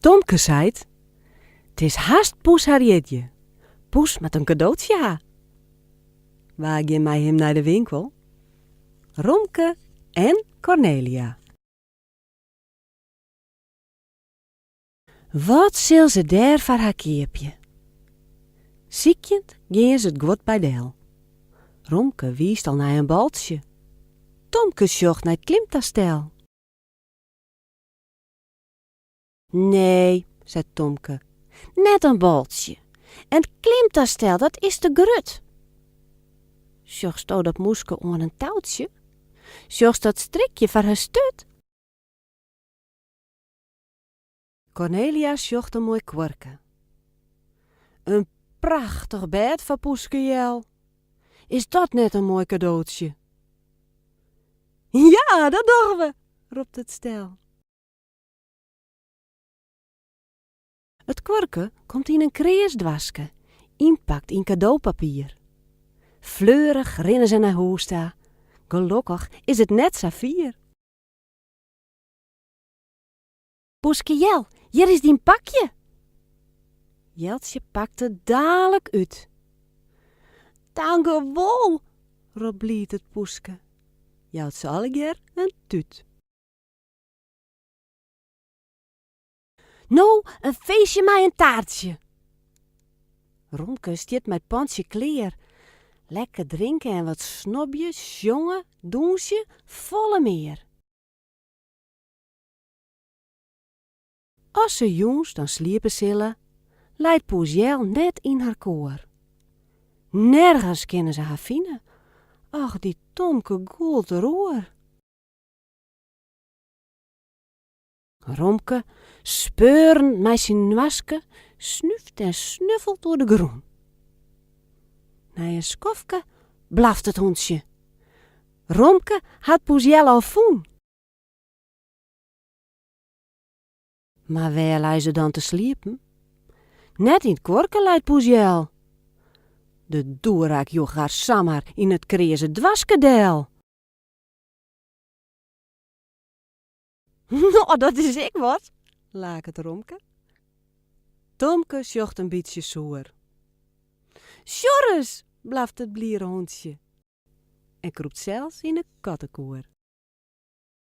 Tomke seit, 't is hast Poes har jierdei. Poes moat in kadootsje ha. Wa gean mei him nei de winkel? Romke en Kornelia. Wat sil se dêr foar har keapje? Sykjend gean se it guod by del. Romke wiist al nei in baltsje. Tomke sjocht nei it klimtastel. Nee, seit Tomke, net in baltsje. In klimtastel, dat is te grut. Sjochsto dat mûske oan in toutsje? Sjochst dat strikje foar har sturt? Kornelia sjocht in moai kuorke. In prachtich bêd foar Poeske Jel, Is dat net in moai kadootsje? Ja, dat dogge we! ropt it stel. It kuorke komt yn in kreas doaske, ynpakt yn kadopapier. Fleurich rinne se nei hûs ta, gelokkich is it net sa fier. Poeske Jel, hjir is dyn pakje! Jeltsje pakt it dalik út. Tankewol! ropt bliid it poeske, jout se allegear in tút. No in feestje mei in taartsje! Romke stiet mei it pantsje klear. Lekker drinke en wat snobje, sjonge, dûnsje, folle mear! As se jûns dan sliepe sille, leit Poes Jel net yn har koer. Nergens kinne se har fine, och, dy Tomke gûlt der oer. Romke, speurend mei syn noaske, snúft en snuffelt oer de grûn. Nei in skofke blaft it hûntsje. Romke hat Poes Jel al fûn. Mar wêr lei se dan te sliepen? Net yn 't kuorke leit poes Jel. De doerak joech har samar yn 't kreaze doaske del. No, dat is ek wat! laket Romke. Tomke sjocht in bytsje soer. Sjoch ris! blaft it bliere hûntsje en krûpt sels yn 'e kattekoer.